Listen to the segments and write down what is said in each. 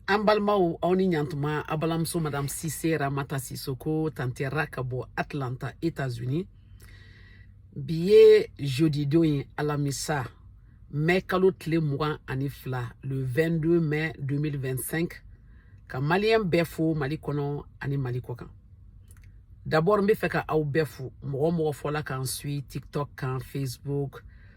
an balimaw aw ni ɲantuma a balimamuso madam sise ramata sisoko tante ra ka bɔ atlanta etats unis bi ye jeudi don ye alamisa mɛ kalo tile mugan ani fila le 22 mai 2025 ka maliyɛn bɛɛ fo mali kɔnɔ ani mali kɔ kan d'abord n b'a fɛ ka aw bɛɛ fo mɔgɔ o mɔgɔ fɔla ka n suivre tiktok kan facebook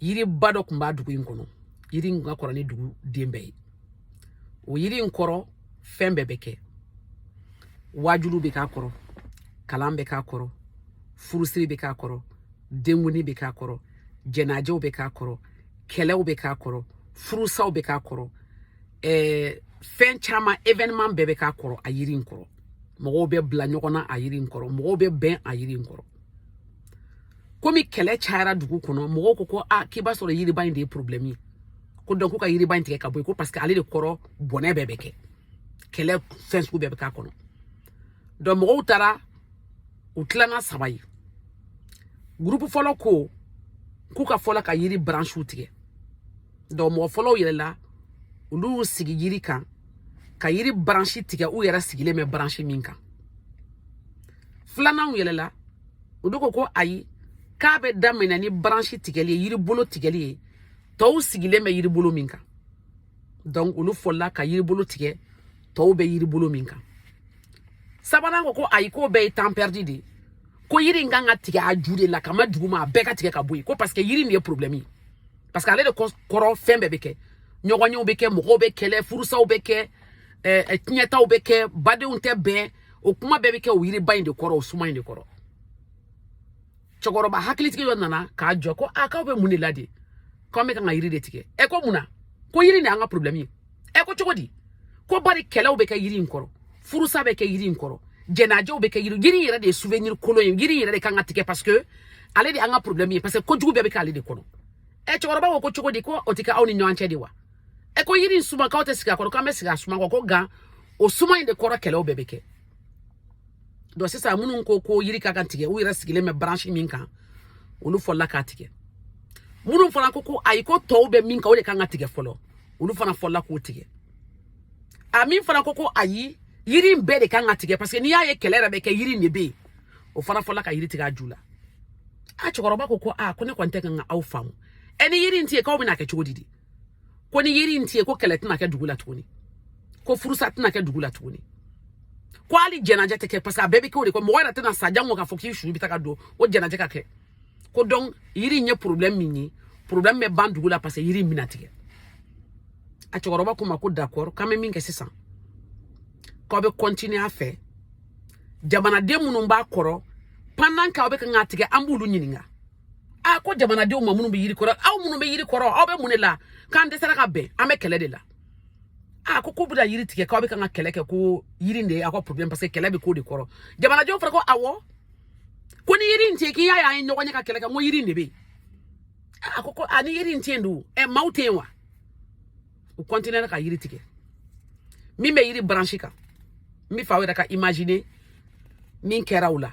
yiriba dɔ tun b'a dugu in kɔnɔ yiri in ka kɔrɔ ni dugu den bɛɛ ye o yiri in kɔrɔ fɛn bɛɛ bɛ kɛ waajulu bɛ k'a kɔrɔ kalan bɛ k'a kɔrɔ furusiri bɛ k'a kɔrɔ denkundi bɛ k'a kɔrɔ jɛnajɛw bɛ k'a kɔrɔ kɛlɛw bɛ k'a kɔrɔ furusaw bɛ k'a kɔrɔ ɛɛ fɛn caman evenement bɛɛ bɛ k'a kɔrɔ a yiri in kɔrɔ mɔgɔw bɛ bila ɲɔgɔn na a yiri in kɔrɔ mɔgɔw bɛ bɛn a yiri in kɔrɔ komi kɛlɛ cayara dugu kɔnɔ mɔgɔw ko ko a k'i b'a sɔrɔ yiriba in de ye problɛmu ye ko donc k'u ka yiriba in tigɛ ka bɔ yen ko paseke ale de kɔrɔ bɔnɛ bɛɛ bɛ kɛ kɛlɛ fɛn sugu bɛɛ bɛ k'a kɔnɔ donc mɔgɔw taara u tilanna saba ye gurupu fɔlɔ ko k'u ka fɔlɔ ka yiri bransiw tigɛ donc mɔgɔ fɔlɔw yɛlɛla olu y'u sigi yiri kan ka yiri baransi tigɛ u yɛrɛ sigilen bɛ baransi min kan filananw yɛlɛla olu ko ko ayi k'a bɛ daminɛ ni baransi tigɛli ye yiri bolo tigɛli ye tɔw sigilen bɛ yiri bolo min kan donc olu fɔlɔla ka yiri bolo tigɛ tɔw bɛ yiri bolo min kan sabanan ko ko ayi k'o bɛɛ ye temps perdu de ye ko yiri in kan ka tigɛ a ju de la ka ma duguma a bɛɛ ka tigɛ ka bɔ yen ko parce que yiri nin ye problème ye parce que ale de kɔrɔ fɛn bɛɛ bɛ kɛ ɲɔgɔnyew bɛ kɛ mɔgɔw bɛ kɛlɛ furusaw bɛ kɛ ɛɛ tiɲɛtaw bɛ kɛ badenw tɛ bɛn o kuma bɛɛ bɛ kɛ o yiriba in de kɔrɔ o suma in de kɔrɔ cɛkɔrɔba hakilitigi dɔ nana k'a jɔ ko a k'aw bɛ mun de la de k'an bɛ kan ka yiri de tigɛ ɛ ko mun na ko yiri de y'an ka problème ye ɛ ko cogo di ko bari kɛlɛw bɛ kɛ yiri in kɔrɔ furusa bɛ kɛ yiri in kɔrɔ jɛnajɛw bɛ kɛ yiri yiri in yɛrɛ de ye souvenir kolon ye yiri in yɛrɛ de kan ka tigɛ parce que ale de an ka problème ye parce que kojugu bɛɛ bɛ k'ale de kɔnɔ ɛ cɛkɔrɔba ko ko cogo di ko o tɛ kɛ aw ni ɲɔgɔn cɛ de wa ɛ ko yiri in suma k'aw tɛ sigi a kɔrɔ k'an bɛ sigi a suma kɔ ko nka o suma in de kɔrɔ kɛlɛw bɛɛ bɛ kɛ donc sisan minnu ko ko yiri ka kan tigɛ u yɛrɛ sigilen bɛ branche min kan olu fɔlɔla k'a tigɛ minnu fana ko ko ayi ko tɔw bɛ min kan o de kan ka tigɛ fɔlɔ olu fana fɔla k'o tigɛ a min fana ko ko ayi yiri in bɛɛ de kan ka tigɛ parce que n'i y'a ye kɛlɛ yɛrɛ bɛ kɛ yiri in de bɛ yen o fana fɔla ka yiri tigɛ a ju la a cɛkɔrɔba ko ko a ko ne kɔni tɛ kan ka aw faamu ɛ ni yiri in tɛ yen k'aw bɛna kɛ cogo di de ko ni yiri in tɛ yen ko kɛlɛ tɛna kɛ dugu la tuguni ko furusa tɛna kɛ dugu la tuguni ko hali jɛnajɛ tɛ kɛ parce que a bɛɛ bɛ kɛ o de kɔ mɔgɔ yɛrɛ tɛna sa jango k'a fɔ k'i su bɛ taa ka don o jɛnajɛ ka kɛ ko donc yiri in ye problème min ye problème bɛ ban dugu la parce que yiri in bɛna tigɛ a cɛkɔrɔba k'u ma ko d'accord k'an bɛ min kɛ sisan k'aw bɛ continuer a fɛ jamanaden minnu b'a kɔrɔ pendant k'aw bɛ kan k'a tigɛ an b'olu ɲininka a ko jamanadenw ma minnu bɛ yiri kɔrɔ aw minnu bɛ yiri kɔrɔ aw bɛ mun de la k'an dɛsɛra ka bɛn an bɛ kɛlɛ de la a ko k'u bɛna yiri tigɛ k'aw bɛ kan ka kɛlɛ kɛ ko yiri de ye aw ka problème parce que kɛlɛ bɛ k'o de kɔrɔ jamanadenw fana ko awɔ ko ni yiri in tɛ k'i y'a ye an ye ɲɔgɔn ye ka kɛlɛ kɛ n ko yiri in de bɛ yen a ko ko a ni yiri in tɛ yen dun ɛ maaw tɛ yen wa u continuera ka yiri tigɛ min bɛ yiri branche kan n bɛ f'aw yɛrɛ ka imaginer min kɛra u la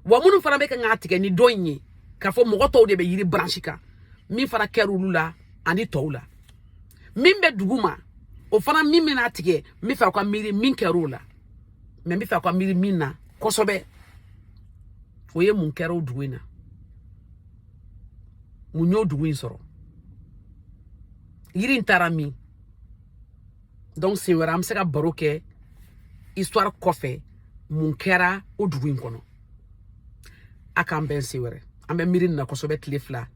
wa minnu fana bɛ ka k'a tigɛ ni dɔ in ye k'a fɔ mɔgɔ tɔw de bɛ yiri branche kan min fana kɛra olu la ani tɔw la min bɛ dugu ma o fana min bɛna tigɛ n bɛ fɛ aw ka miiri min kɛra o la mais n bɛ fɛ aw ka miiri min na kosɛbɛ o ye mun kɛra o dugu in na mun y'o dugu in sɔrɔ yiri in taara min donc siɲɛ wɛrɛ an bɛ se ka baro kɛ histoire kɔfɛ mun kɛra o dugu in kɔnɔ a k'an bɛn siɲɛ wɛrɛ an bɛ miiri nin na kosɛbɛ tile fila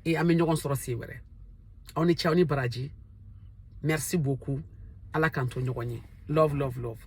e an bɛ ɲɔgɔn sɔrɔ siɲɛ wɛrɛ aw ni ce aw ni baraji merci beaucoup ala k'an to ɲɔgɔn ye love love love